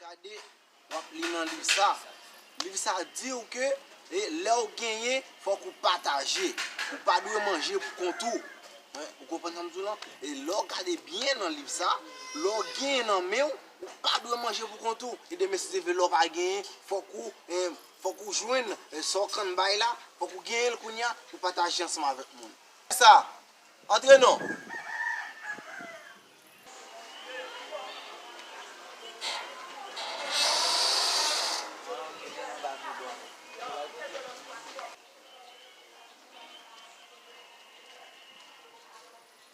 Gade, w ap li nan liv sa. Liv sa di ou ke lè ou genyen, fòk ou pataje. Ou pa dwe manje pou kont ou. Ou konprann sa m di w lan? E lè w gade byen nan liv sa, lè w genyen nan men ou. Ou pa dwe manje pou kont ou. E demen si se vè lè w pa genyen, fòk ou, fòk ou jwenn sa w kann bay la, fòk ou genyen l kounye a pou pataje ansanm avèk moun. Fè sa! Antre non!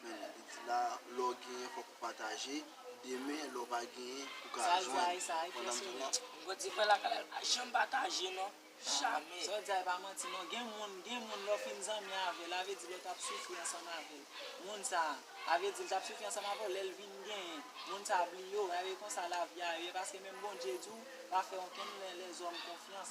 Men li di la lè w genyen fòk ou pataje, demen lè w pa genyen ou ka jwenn. Sa l di a e sa a ki ès ki menm? Bon di fè lakay la li pa janm pataje non, jamè. Sa w di a e pa manti non, gen moun gen moun lè w fin zanmi avè l avè di lè w tap soufri ansanm avè l moun sa a avè di l tap soufri ansanm avè w lè l vin genyen moun sa a bliye w e konsa lavi a ye paske menm Bondye di w pa fè okenn lè lèzòm konfyans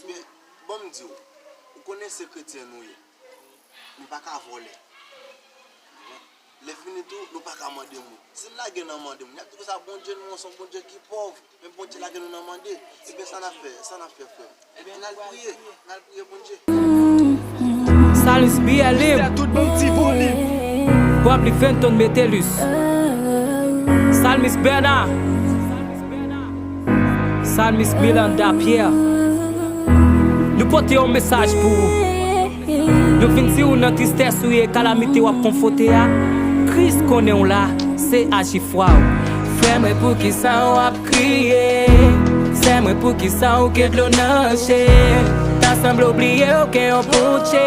Ebyen, ban m di w, ou konnen se kretyen nou ye, nou pa ka vòlè. Lèfini tou, nou pa ka mande moun. Si n lage nan mande moun, y ap di konsa, Bondye nou an se yon Bondye ki pòv, men Bondye lage nou nan mande. Ebyen, sa n ap fè? Sa n ap fè, frè m? Ebyen, n al priye, n al priye Bondye. Salis BLU Pwapli Fenton Metellus Salmis Bernard. Salmis Miranda Pierre Nou pote yon mesaj pou ou Nou vin di ou nan tristès ou ye kalamite wap konfote a Kris konnen ou la se aji fwa ou Frè mwen poukisa wap kriye Sè mwen poukisa ou gen dlo nan je Ta sanble ou bliye ou gen yon Bondje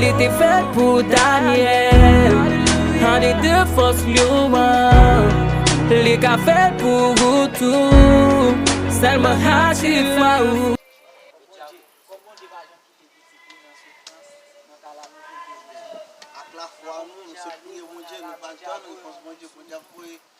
Li te fèt pou Daniel. An li te fòs lyon. Li ka fèt pou ou tou. Sèlman aji fwa ou.